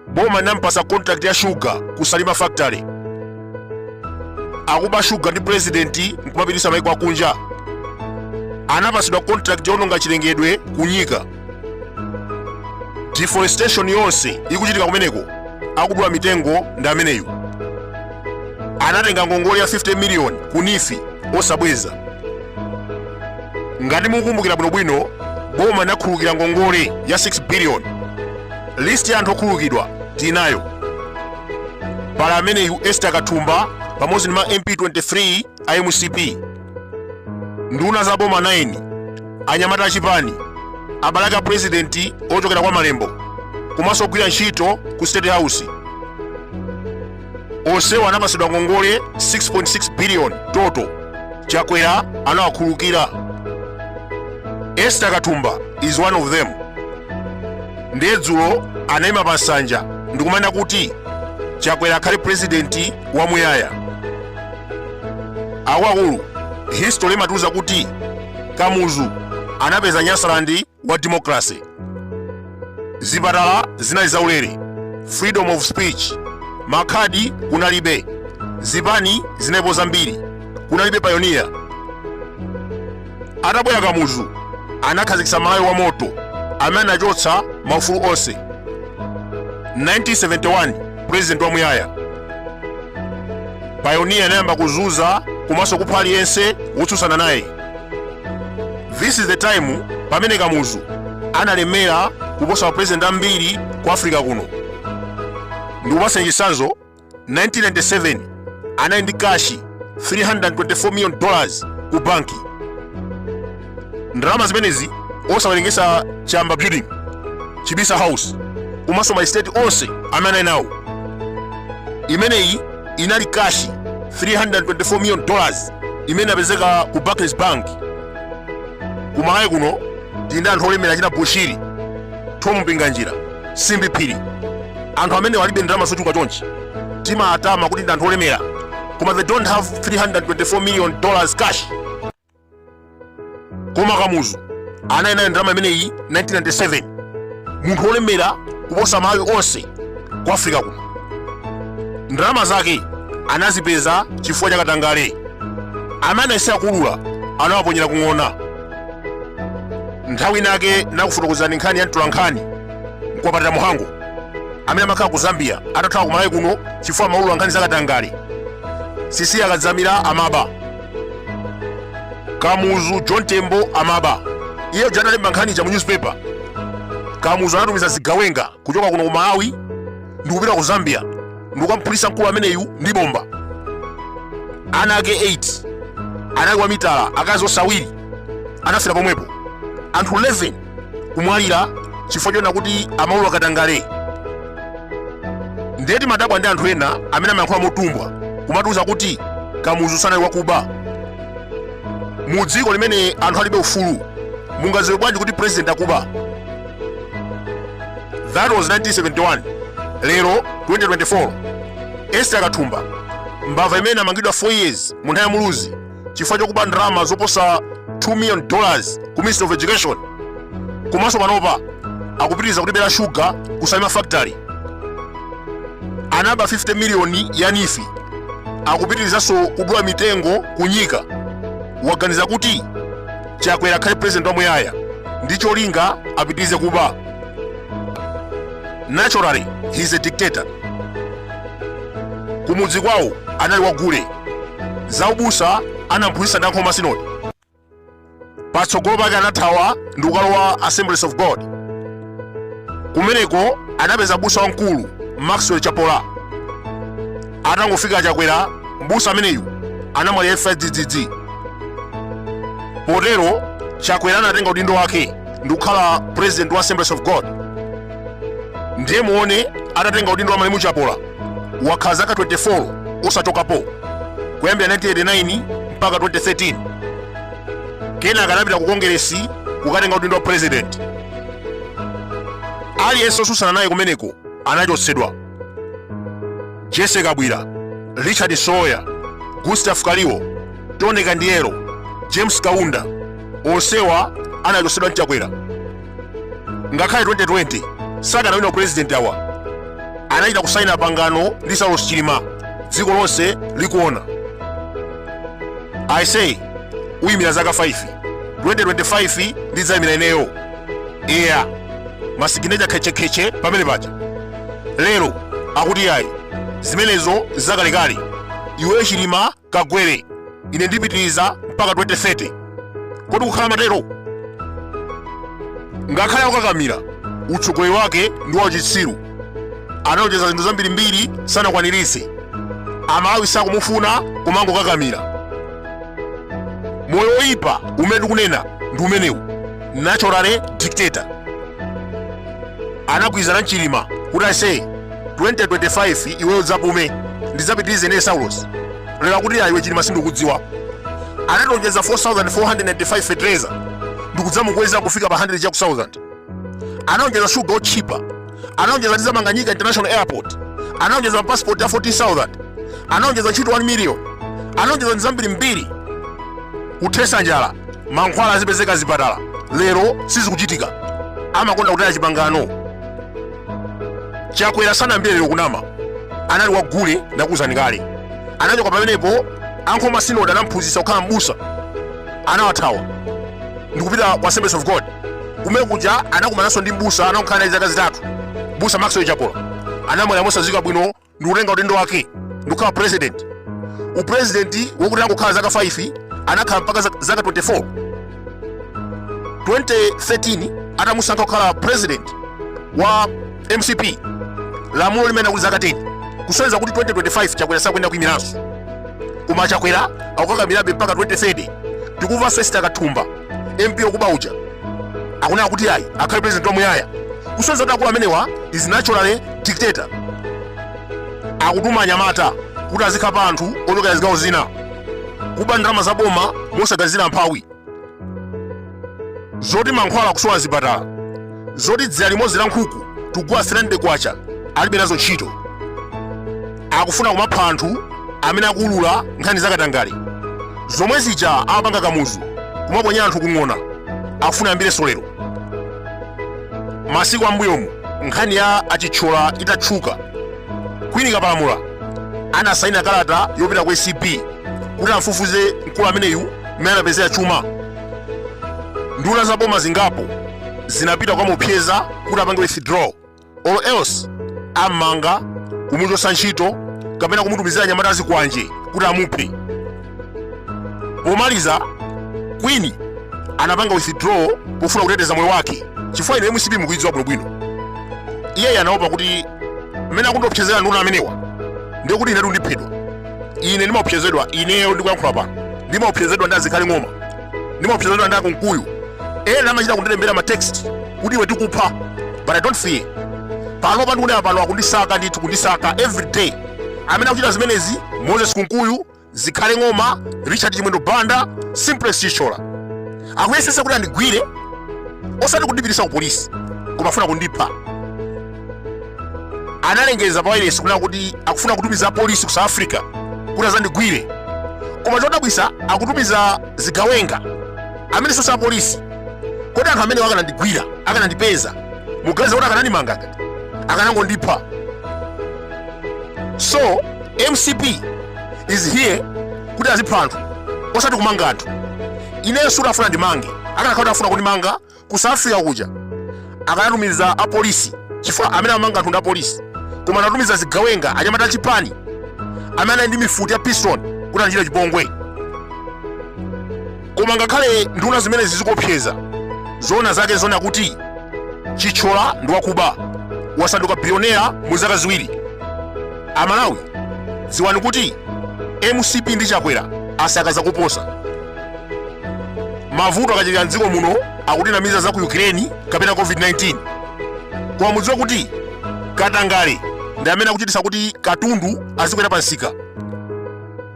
boma nampasa contract ya shuga ku salima factory akuba shuga ndi pulezidenti nkumapitisa maiko akunja anapasidwa contract yoononga chilengedwe kunyika deforestation yonse ikuchitika kumeneko akudula mitengo ndi ameneyu anatenga ngongole ya 50 miliyoni ku neef osabweza ngati mukukumbukira bwinobwino boma linakhululukira ngongole ya 6 biliyoni listi ya anthu okhululukidwa tinayo pali ameneyu esther kathumba pamodzi ndi ma mp 23 a mcp nduna za boma 9 anyamata achipani abale ake a purezidenti ochokera kwa malembo komanso ogwira ntchito ku state house onsewo anapatsidwa ngongole 6.6 biliyoni total chakwera anawakhululukira esther kathumba is one of them ndiye dzulo anayima pa nsanja ndikumanena kuti chakwera akhale purezidenti wamuyaya akuluakulu history imatiuza kuti kamuzu anapeza nyasaland wa democracy zipatala zinali zaulere freedom of speech makhadi kunalibe zipani zinalipo zambiri kunalibe payoniya atabwera kamuzu anakhazikitsa malawi wa moto amene anachotsa maufulu onse 1971 president wamuyaya payoniya anayamba kuzunza komanso kupha aliyense wotsutsana naye this is the time pamene kamuzu analemera kuposa mapresident ambiri ku africa kuno ndikupatseni chitsanzo 1997 anali ndi kashi 324 million dollars ku banki ndalama zimenezi osawerengesa chayamba building chibisa house komanso maestate onse amene anali nawo imeneyi inali kashi 324 million dollars imene inapezeka ku barclays bank kumalawi kuno tili ndi anthu olemera achina bushiri tom mpinganjira simbi phiri anthu amene alibe ndalama zochuluka chonchi timatama kuti ndi anthu olemera koma they don't have 324 million dollars cash koma kamuzu anali nayo ndalama imeneyi 1997 munthu olemera kuposa malawi onse ku africa kuno ndalama zake anazipeza chifukwa cha katangale amene anayesera kuulula anawaponyera kung'ona nthawi inake nakufotokozerani nkhani ya mtolankhani mkwapatira mhango amene amakhala ku zambia atathawa kumalawi kuno chifukwa amaulula nkhani zakatangale cecilia kadzamira amaba kamuzu john tembo amaba iye uja atalemba nkhani ija mu newspaper kamuzu anatumiza zigawenga kuchoka kuno ku malawi ndikupita ku zambia ndikukamphulisa mkulu ameneyu ndi bomba ana ake 8 anali wamitala akazi onse awiri anafera pomwepo anthu 11 kumwalira chifukwa chonena kuti amaulula katangale nde timadabwa ndi anthu ena amene amayankhula motumbwa kumatiuza kuti kamuzu sanali wakuba mu dziko limene anthu alibe ufulu mungaziwe bwanji kuti president akuba that was 1971 lero 2024 esther kathumba mbava imene amangidwa 4 years mu nthawi ya muluzi chifukwa chokuba ndalama zoposa 2 million dollars ku ministry of education komanso panopa akupitiriza kutibera shuga ku salima factory anaba 50 miliyoni ya neef akupitirizanso kudula mitengo kunyika waganiza kuti chakwera akhale president wamuyaya ndi cholinga apitirize kuba naturally he is a dictator kumudzi kwawo anali wagule zaubusa anamphunzitsa ndi a nkhoma sinodi patsogolo pake anathawa ndikukalowa assemblies of god kumeneko anapeza mbusa wamkulu maxwell chapola atangofika chakwera mbusa ameneyu anamwalira imfa yadzidzidzi potero chakwera anatenga udindo wake ndi kukhala president wa assemblies of god ndiye muone atatenga udindo wa malemu chapola wakhala zaka 24 osachokapo kuyambira 1989 mpaka 2013 kenaka anapita ku kongeresi kukatenga udindo wa president aliyense osusana naye kumeneko anachotsedwa jessie kabwila richard msowoya gustav kaliwo tony kandiero james kaunda onsewa anachotsedwa ndi chakwera ngakhale 2020 sakanawina upurezidenti awa anachita kusaina pangano ndi saulos chilima dziko lonse likuona aise uyimira zaka 5 2025 ndidzayimira ineyo eya masiginecha khetchekhetche pamene paja lero akuti ayi zimenezo zakalekale iwe chilima kagwere ine ndipitiriza mpaka 2030 kodi kukhala amatero ngakhale akukakamira utsogoleri wake ndi wachitsiru analonjeza zinthu zambirimbiri sanakwaniritse amalawi sakumufuna kumangokakamira moyo woyipa umene tikunena ndi umenewu naturally dictator anagwirizana ndi chilima kuti ase 2025 iweyo udzapume ndidzapitirize ine saulos lero kuti ayi iwe chilima sindikudziwa analonjeza 4495 fetereza ndikudzamukweza kufika pa 100 chaku 1000 analonjeza shuga otchipa analonjeza ndizamanga nyika international airport analonjeza mapasipoti a 14000 analonjeza ntchito 1 million analonjeza ndi zambirimbiri kuthesa njala mankhwala azipezeka zipatala lero sizikuchitika amakonda kutaya chipangano chakwera sanayambire lero kunama anali kwa gule ndakuuzani kale anachoka pamenepo a nkhoma sinodi anamphunzitsa kukhala mbusa anawathawa ndikupita kwa assemblies of god kumene kuja anakumananso ndi mbusa atakhala naye zaka zitatu mbusa maxwell chapola anamwalira mosadziwika bwino ndi kutenga udindo wake ndikukhala president upresidenti wokuti angokhala zaka 5 anakhala mpaka zaka 24 2013 atamusankha kukhala president wa mcp lamulo limanena kuti zaka 10 kusonyeza kuti 2025 chakwera sakuyenera kuyimiranso koma chakwera akukakamirabe mpaka 2030 tikumvanso isitaka thumba mp okuba uja akunena kuti ayi akhale president wamuyaya kusonyeza kuti akulu amenewa is naturally dictator akutuma anyamata kuti azikhapa anthu ochokera zigawo zina kuba ndalama za boma mosaganizira mphawi zoti mankhwala akusowa zipatala zoti dzira limodzi la nkhuku tugula 300 kwacha alibe nazo ntchito akufuna kumapha anthu amene akuulula nkhani zakatangale zomwe zija amapanga kamuzu kumaponyera anthu kung'ona akufuna ayambirenso lero masiku ambuyomu nkhani ya achitchola itatchuka queen kapalamula anasaina kalata yopita ku acb kuti amfufuze mkulu ameneyu mmene anapezera chuma nduna za boma zingapo zinapita kukamuopseza kuti apange withdraw or else ammanga kumuchotsa ntchito kapena kumutumizira anyamata azikwanje kuti amuphe pomaliza queen anapanga withdraw pofuna kuteteza moyo wake chifukwa ino mcp mukuidziwa bwinobwino iyeyu anaopa kuti mmene akundiopsezera nduna amenewa ndiye kuti inetu ndiphedwa ine ndimaopsezedwa ineyo ndikuyankhula pano ndimaopsezedwa ndi azikhale ng'oma ndimaopsezedwa ndi akunkuyu ena amachita kundilembera ma text kuti iwe tikupha but i don't fear panopa ndikunena pano akundisaka ndithu kundisaka every day amene akuchita zimenezi moses kunkuyu zikhale ng'oma richard chimwendo banda simplex chithyola akuyesesa kuti andigwire osati kundipitisa ku polisi koma afuna kundipha analengeza pa wailesi kunena kuti akufuna kutumiza apolisi ku south africa kuti azandigwire koma chodabwisa akutumiza zigawenga amene si apolisi kodi anthu amenewo akanandigwira akanandipeza muganiza kuti akanandimangaga akanangondipha so mcp is here kuti azipha anthu osati kumanga anthu ineyo sikuti afuna andimange akanakhala kuti afuna kundimanga ku south africa kuja akanatumiza apolisi chifukwa amene amanga anthu ndi apolisi koma anatumiza zigawenga anyamata achipani amene anali ndi mifuti ya pistol kuti andichite chipongwe koma ngakhale nduna zimenezi zikuopseza zoona zake zoona kuti chithyola ndi wakuba wasanduka bilionera mu zaka ziwiri amalawi dziwani kuti mcp ndi chakwera asakaza kuposa mavuto akachuluka mdziko muno akutinamiza za ku ukraine kapena covid-19 koma mudziwe kuti katangale ndi amene akuchitisa kuti katundu azikwera pamsika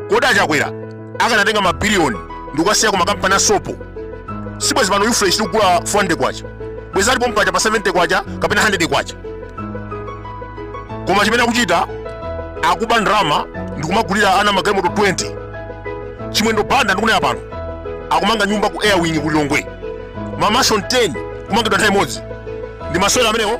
kodi achakwera akanatenga mabiliyoni ndikukasiya ku makampani a sopo sibwezi pano ufresh tikugula 400 kwacha bwezi ali pompaja pa 70 kwacha kapena 100 kwacha koma chimene akuchita akuba ndalama ndikumagulira ana magalimoto 20 chimwendo banda ndikunena pano akumanga nyumba ku airwing ku lilongwe ma mansion 10 kumangidwa nthawi imodzi ndi masewera amenewo